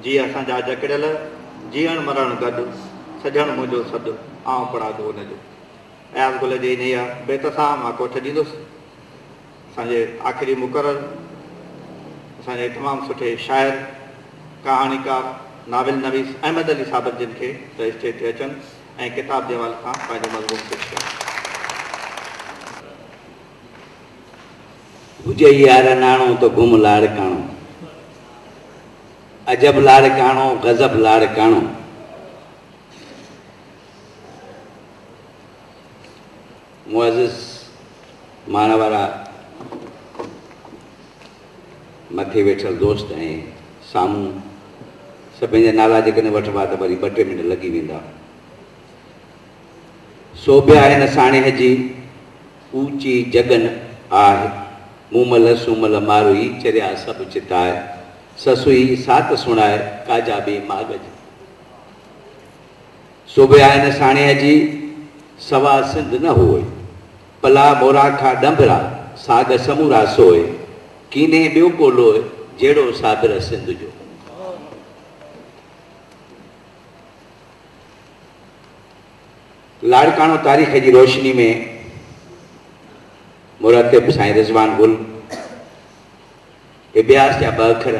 جي اسان جا جڪڙيل، جيئڻ مرڻ گڏ، سڄڻ منهنجو سڏ، آئون پڙاڳو ان جو. اياز گل جي انهيء بيت سان مان ڪوٺ ڏيندس. اسان جي آخري مقرر، اسان جي تمام سٺي شاعر، ڪهاڻيڪار، ناول نويس احمد علي صابر جن کي ته اسٽيج تي اچن ۽ ڪتاب جي حوالي سان پنهنجو مضمون پيش ڪن. هجئي يار اناڻو ته گم لاڙڪاڻو. عجب لاڙڪاڻو غضب لاڙڪاڻو. معزز ماڻ وارا مٿي ويٺل دوست ۽ سامهون سڀني جا نالا جيڪڏهن وٺبا ته وري ٻه ٽي منٽ لڳي ويندا. سوڀيا هن ساڻيهه جي. اوچي جڳن آھ، مومل سومل ماروئي چريا سڀ چتاء، سسئي سات سڻاء ڪاجا ٻي ماڳ جي. سوڀيائن ساڻيهه جي، سوا سنڌ نه هوء، پلا مورا کان ڏنڀرا، ساڳ سمورا سوء، ڪينهين ٻيو ڪو لوء، جهڙو صابر سنڌ جو. لاڙڪاڻو، تاريخ جي روشني ۾ مرتب سائين رضوان گل ابياس جا ٻه اکر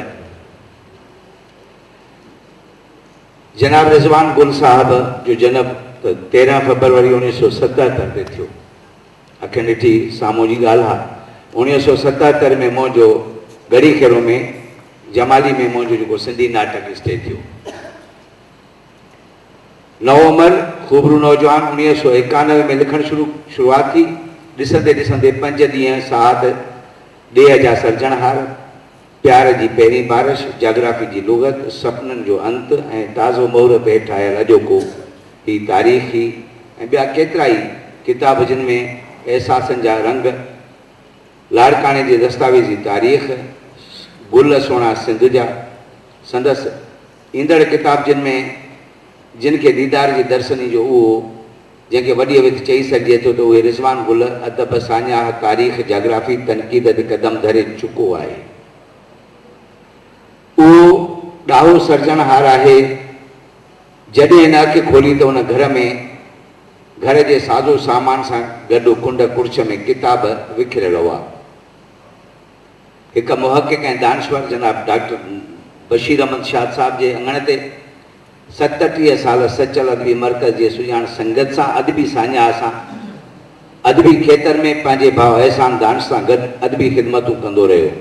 جناب رضوان گل صاحب جو جنم ته تيرهن فبروري اڻويهه سو ستهتر تي ٿيو اکين ڏٺي سامهون جي ڳالهه آ اڻويهه سو ستهتر ۾ منهنجو ڳڙهي کيرو ۾ جمالي ۾ منهنجو جيڪو سنڌي ناٽڪ اسٽيج ٿيو نوعمر خوبرو نوجوان اڻيهه سؤ ايڪانوي ۾ لکڻ شروع شروعات ٿي، ڏسندي ڏسندي پنج ڏينهن ساعت ڏيهه جا سرجڻهار، پيار جي پهرين بارش، جاگرافي جي لغت، سپنن جو انت ۽ تازو مهورت هيٺ آيل اڄوڪو هي تاريخ هي ۽ ٻيا ڪيترائي ڪتاب جن ۾ احساسن جا رنگ لاڙڪاڻي جي دستاويزي تاريخ گل سهڻا سنڌ جا سندس ايندڙ ڪتابجين ۾ جن کي ديدار جي درسني جو اهو جنهن کي وڏيء وٿ چئي سگهجي ٿو ته اهي رضوان گل ادب، ساڃاهه، تاريخ، جاگرافي، تنقيد ۽ قدم ڌري چڪو آهي. اهو ڏاهو سرجڻهار آهي. جڏهن هن اک کولي ته هن گهر ۾ گهر جي سازو سامان سان گڏ ڪنڊ ڪڙڇ ۾ ڪتاب وکريل هئا. هڪ محقق ۽ دانشور جناب ڊاڪٽر بشير احمد شاد صاحب جي اڱڻ تي ستٽيهه سال سچل ادبي مرڪز جي سڄاڻ سنگت سان ادبي ساڃاهه سان ادبي کيتر ۾ پنهنجي ڀاء احسان دانش سان گڏ ادبي خدمتون ڪندو رهيو.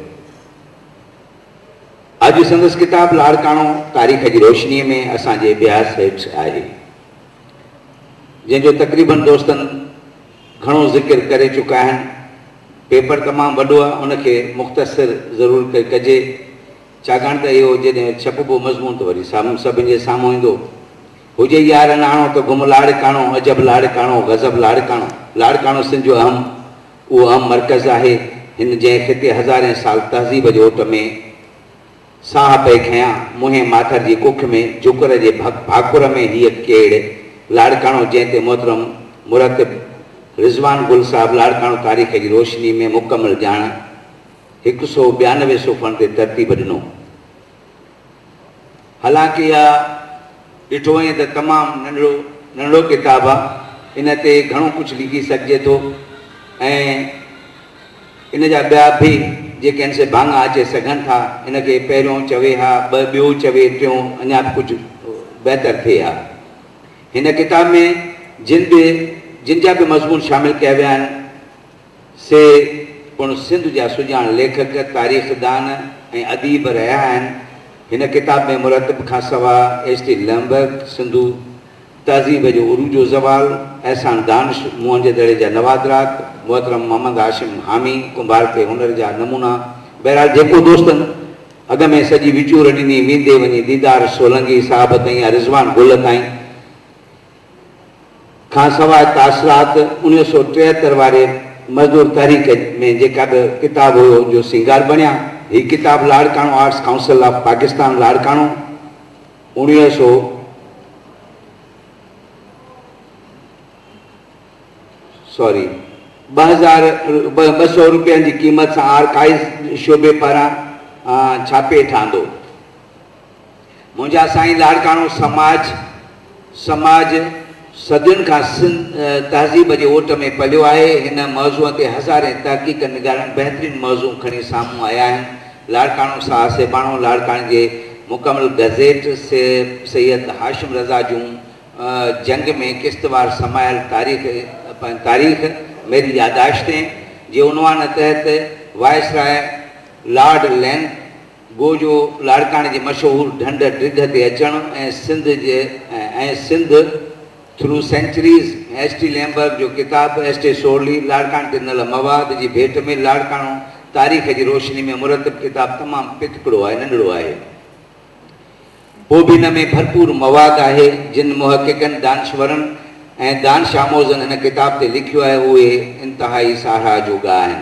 اڄ سندس ڪتاب لاڙڪاڻو تاريخ جي روشنيء ۾ اسان جي بياس هيٺ آهي جنهن جو تقريبن دوستن گهڻو ذڪر ڪري چڪا آهن. پيپر تمام وڏو آهي ان کي مختصر ضرور ڪجي ڇاڪاڻ ته اهو جڏهن ڇپبو مضمون ته وري سامهون سڀن جي سامهون ايندو. هجي يار اڻاڻو ته گم لاڙڪاڻو، عجب لاڙڪاڻو، غضب لاڙڪاڻو. لاڙڪاڻو سنڌ جو اهم اهو اهم مرڪز آهي هن جنهن خطي هزارين سال تهذيب جي اوٽ ۾ ساهه پئي کنيان، منهين ماٿر جي ڪک ۾ جوڪر جي ڀاڪر ۾ هيء ڪيڙ لاڙڪاڻو جنهن تي محترم مرتب رضوان گل صاحب لاڙڪاڻو تاريخ جي روشني ۾ مڪمل ڄاڻ هڪ سئو ٻيانوي صفحن تي ترتيب ڏنو حالانڪه اها ڏٺو وڃي ته تمام ننڍڙو ننڍڙو ڪتاب آهي ان تي گهڻو ڪجهه لکي سگهجي ٿو ۽ ان جا ٻيا بھ جي ڪنھن سي ڀاڱا اچي سگھن ٿا، ان کي پهريون چوي ھا بھ ٻيو چوي ٽيون اڃا بھ ڪجھھ بهتر ٿئي ھا. ھن ڪتاب ۾ جن بھ جن جا بھ مضمون شامل ڪيا ويا آھن سي پڻ سنڌ جا سڄاڻ ليکڪ، تاريخدان ۽ اديب رھيا آھن. ھن ڪتاب ۾ مرتب کان سوا ايس ٽي لمبرگ، سنڌو. تهذيب جو عروج و زوال، احسان دانش، موهنجي دڙي جا نوادرات، محترم محمد هاشم حامي، ڪنڀارڪي هنر جا نمونا، بهرحال جيڪو دوستن اڳ ۾ سڄي وچور ڏني، ويندي وڃي ديدار سولنگي صاحب تائين يا رضوان گل تائين، کان سواء تاثرات اڻويهه سؤ ٽيهتر واري مزدور تحريڪ ۾ جيڪا به ڪتاب هيو جو سينگار بڻيا. هي ڪتاب Larkana arts council of Pakistan Larkana, اڻيهه سؤ سوري ٻه هزار ٻه سؤ روپين جي قيمت سان آرڪائيز شعبي پاران ڇاپي هيٺ آندو. منهنجا سائين لاڙڪاڻو سماج سماج صدين کان سنڌ تهذيب جي اوٽ ۾ پليو آهي. هن موضوع تي هزارين تحقيق نگارن بهترين موضوع کڻي سامهون آيا آهن. لاڙڪاڻو ساهه سيباڻو لاڙڪاڻي جي مڪمل گزيٽ سيد هاشم رضا جون جنگ ۾ قسطوار سمايل تاريخ تاريخ ميري ياداشتين جي عنوان تحت وائسراء لارڊ لين گو جو لاڙڪاڻي جي مشهور ڍنڍ ڊگهه تي اچڻ ۽ سنڌ جي ۽ Sindh through centuries ۽ S T Lambrick جو ڪتاب ايس ٽي سورلي لاڙڪاڻي تي ڏنل مواد جي ڀيٽ ۾ لاڙڪاڻو تاريخ جي روشني ۾ مرتب ڪتاب تمام پتڪڙو آهي ننڍڙو آهي پوڀين ۾ ڀرپور مواد آهي جن محققن دانشورن ۽ دانش آموزن هن ڪتاب تي لکيو آهي اهي انتهائي ساراهه جوڳا آهن.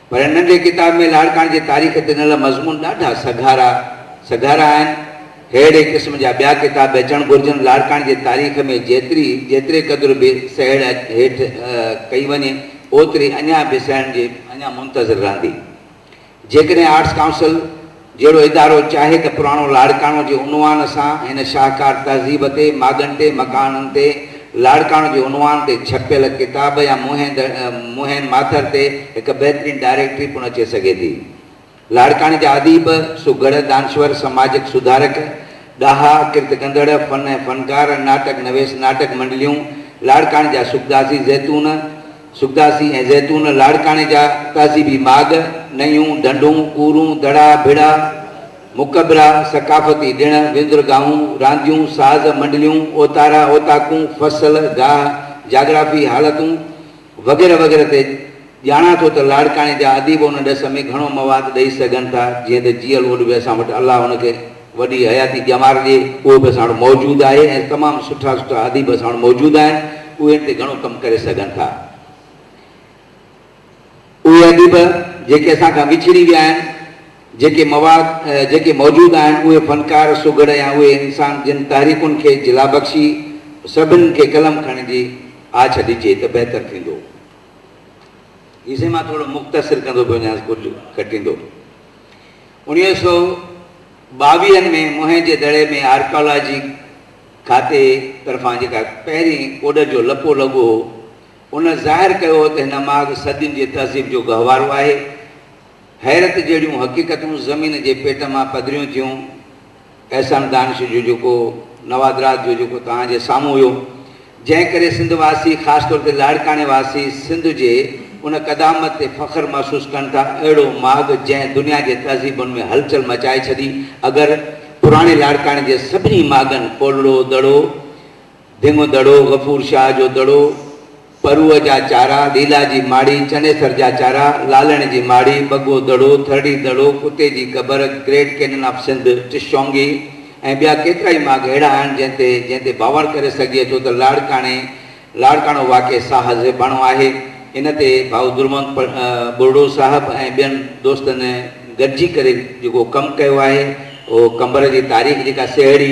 پر هن ننڍي ڪتاب ۾ لاڙڪاڻي جي تاريخ تي ڏنل مضمون ڏاڍا سگهارا سگهارا آهن. ههڙي قسم جا ٻيا ڪتاب به اچڻ گهرجن. لاڙڪاڻي جي تاريخ ۾ جيتري جيتري قدر به سهيڙ هيٺ ڪئي وڃي، اوتري اڃا به سهيڙن جي اڃا منتظر رهندي. جيڪڏهن آرٽس ڪائونسل جهڙو ادارو چاهي ته پراڻو لاڙڪاڻو جي عنوان سان هن شاهڪار تهذيب تي ماڳن تي مڪانن تي لاڙڪاڻو جي عنوان تي ڇپيل ڪتاب يا منهن منهن ماٿر تي هڪ بهترين ڊائريڪٽري پڻ اچي سگهي ٿي. لاڙڪاڻي جا اديب، سگهڙ، دانشور، سماجڪ سڌارڪ، ڏاها، ڪرت ڪندڙ، فن ۽ فنڪار، ناٽڪ نويس، ناٽڪ منڊليون، لاڙڪاڻي جا سگدازي زيتون، سگداسي ۽ زيتون لاڙڪاڻي جا تهذيبي ماڳ، نئيون، ڍنڍون، ڪورون، دڙا، ڀڙا، مقبرا، ثقافتي ڏڻ، وندرگاهون، رانديون، ساز، منڊليون، اوتارا، اوطاقون، فصل، گاهه، جاگرافي، حالتون وغيره وغيره تي ڄاڻان ٿو ته لاڙڪاڻي جا اديب ان ڏس ۾ گهڻو مواد ڏئي سگهن ٿا جيئن ته جيئل اوڏ به اسان وٽ الله ان کي وڏي حياتي ڄمارجي اهو به اسان وٽ موجود آهي ۽ تمام سٺا سٺا اديب اسان وٽ موجود آهن اهي ان تي گهڻو ڪم ڪري سگهن ٿا اهي اديب جيڪي اسان کان وڇڙي ويا آهن جيڪي مواد جيڪي موجود آهن اهي فنڪار سگهڙ يا اهي انسان جن تحريڪن کي جلا بخشي سڀنن کي قلم کڻڻ جي آڇ ڏجي ته بهتر ٿيندو هي سين مان ٿورو مختصر ڪندو پيو وڃانس ڪجهه کٽيندو. انويهه سؤ ٻاويهن ۾ موهن جي دڙي ۾ آرڪيالاجي کاتي طرفان جيڪا پهرين ڪوڏن جو لڪو لڳو هو، ان ظاهر ڪيو هو ته هن ماڳ صدين جي تهذيب جو گهوارو آهي. حيرت جهڙيون حقيقتون زمين جي پيٽ مان پڌريون ٿيون. احسان دانش جو جيڪو نوادرات جو جيڪو توهان جي سامهون هيو جنهن ڪري سنڌ واسي خاص طور تي لاڙڪاڻي واسي سنڌ جي ان قدامت تي فخر محسوس ڪن ٿا اهڙو ماڳ جنهن دنيا جي تهذيبن ۾ هلچل مچائي ڇڏي اگر پراڻي لاڙڪاڻي جي سڀني ماڳن ڪولڙو دڙو ڌم دڙو، غفور شاهه جو دڙو، پروء جا چارا، ليلا جي ماڙي، چنيسر جا چارا، لالڻ جي ماڙي، ٻگهو دڙو، ٿرڙي دڙو، ڪتي جي قبر، گريٽ ڪينن آف سنڌ، ٽشونگي ۽ ٻيا ڪيترا ئي ماڳ اهڙا آهن جنهن تي جنهن تي باور ڪري سگهجي ٿو ته لاڙڪاڻي لاڙڪاڻو واقع ساهه زيباڻو آهي. ان تي ڀائو درونت ٻرڙو صاحب ۽ ٻين دوستن گڏجي ڪري جيڪو ڪم ڪيو آهي اهو قمبر جي تاريخ جيڪا سهيڙي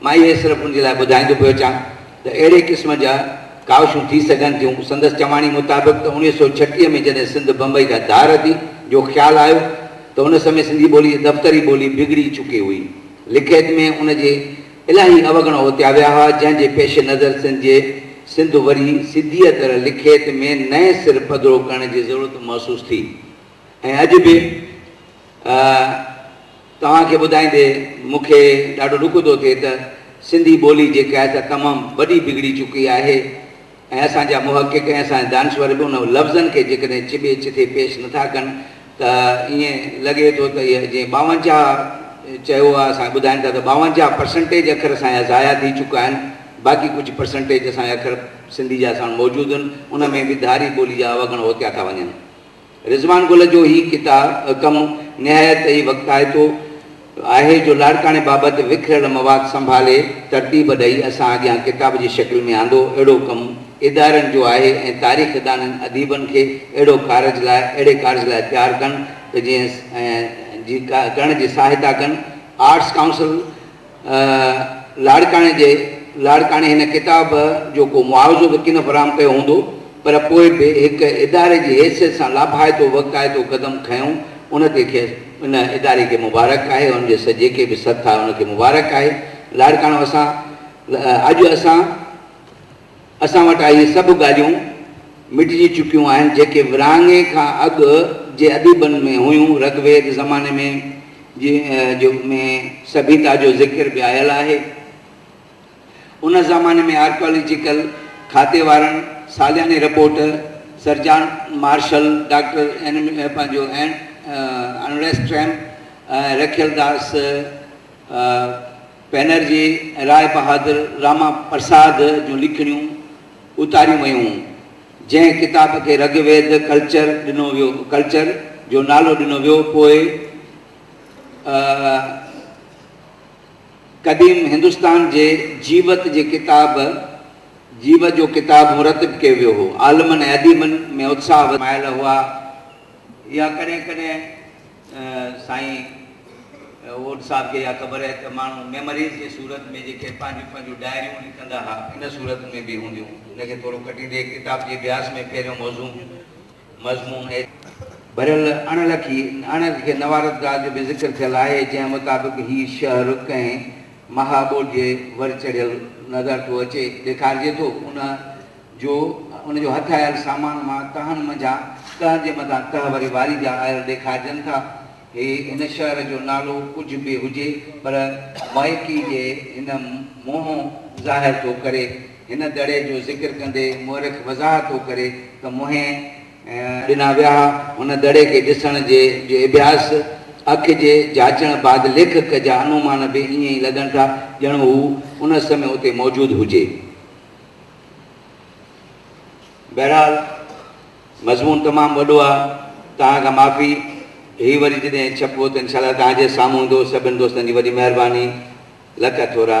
مان اهي صرف ان جي لاء ٻڌائيندو پيو اچان ته اهڙي قسم جا ڪاوشون ٿي سگهن ٿيون. سندس چواڻي مطابق ته اوڻيهه سؤ ڇٽيهه ۾ جڏهن سنڌ بمبئي کان ڌار اٿي جو خيال آيو ته ان سمي سنڌي ٻولي جي دفتري ٻولي بگڙي چڪي هئي. لکيت ۾ ان جي الاهي اوگڻ اوتيا ويا هئا جنهن جي پيش نظر سنڌ جي سنڌ وري سڌيء طرح لکيت ۾ نئين سر پڌرو ڪرڻ جي ضرورت محسوس ٿي. ۽ اڄ به توهان کي ٻڌائيندي مون کي ڏاڍو ڏک ٿو ٿئي ته سنڌي ٻولي جيڪا آهي سا تمام وڏي بگڙي چڪي آهي ۽ اسان جا محقق ۽ اسان جا دانشور به ان لفظن کي جيڪڏهن چٻي چٿي پيش نٿا ڪن ته ائين لڳي ٿو ته اهي جيئن ٻاونجاهه چيو آهي اسان کي ٻڌائين ٿا ته ٻاونجاهه پرسنٽيج اکر اسان جا ضايع ٿي چڪا آهن باقي ڪجهه پرسنٽيج اسان جا اکر سنڌي جا اسان وٽ موجود آهن ان ۾ به ڌاري ٻولي جا اوگڻ هوتيا ٿا وڃن رضوان گل جو هي ڪتاب ڪم نهايت ئي وقتائتو آهي جو لاڙڪاڻي بابت وکريل مواد سنڀالي ترتيب ڏئي اسان اڳيان ڪتاب جي شڪل ۾ آندو. اهڙو ڪم ادارن جو آهي ۽ تاريخ دانن اديبن کي اهڙو ڪارج لاء اهڙي ڪارج لاء تيار ڪن ته جيئن جي ڪرڻ جي ساهتا ڪن. Arts council. لاڙڪاڻي جي لاڙڪاڻي هن ڪتاب جو ڪو معاوضو به ڪن فراهم ڪيو هوندو پر پوء به هڪ اداري جي حيثيت سان لاڀائتو وقائتو قدم کنيو ان تي کيس ان اداري کي مبارڪ آهي ان جي جيڪي به سٿ آهي ان کي مبارڪ آهي لاڙڪاڻو اسان اڄ اسان اسان وٽ اهي سڀ ڳالهيون مٽجي چڪيون آهن، جيڪي ورهاڱي کان اڳ جي اديبن ۾ هيون. رگ ويد زماني ۾ جي جو ۾ سڀيتا جو ذڪر به آيل آهي. ان زماني ۾ آرڪيالاجيڪل کاتي وارن سالياني report sir John Marshall, doctor اين پنهنجو اين انريسٽريم ۽ رکيل داس، بئنرجي ۽ راء بهادر راما پرساد جون لکڻيون اتاريون ويون، جنهن ڪتاب کي رگ ويد ڪلچر ڏنو ويو Culture جو نالو ڏنو ويو پوء قديم هندستان جي جيوت جي ڪتاب جيوت جو ڪتاب مرتب ڪيو ويو هو عالمن ۽ اديبن ۾ اتساهه وڌايل هئا يا ڪڏهن ڪڏهن سائين اوڏ صاحب کي اها خبر آهي ته ماڻهو ميمريز جي صورت ۾ جيڪي پنهنجون پنهنجون ڊائريون لکندا ها ان صورت ۾ به هونديون ان کي ٿورو ڪٽيندي هڪ ڪتاب جي اڀياس ۾ پهريون موضوع مضمون ايڇ ڀريل اڻ لکي اڻ لکي نوارت ڳالهه جو به ذڪر ٿيل آهي جنهن مطابق هي شهر ڪنهن مها ٻوڏ جي ور چڙهيل نظر ٿو اچي ڏيکارجي ٿو ان جو ان جو هٿ آيل سامان مان تهن منجهان تهن جي مٿان تهه وري واري جا آيل ڏيکارجن ٿا. هي هن شهر جو نالو ڪجهه به هجي پر مئڪي جي هن منهن ظاهر ٿو ڪري. هن دڙي جو ذڪر ڪندي مؤرخ وضاحت ٿو ڪري ته منهن. ڏنا ويا ها. هن دڙي کي ڏسڻ جي جو اڀياس، اک جي جاچڻ بعد ليکڪ جا انومان به ائين ئي لڳن ٿا ڄڻ هو ان سمي اتي موجود هجي. بهرحال مضمون تمام وڏو آ توهان کان معافي هي وري جڏهن ڇپبو ته انشاء الله توهان جي سامهون ايندو سڀن دوستن جي وڏي مهرباني لک ٿورا.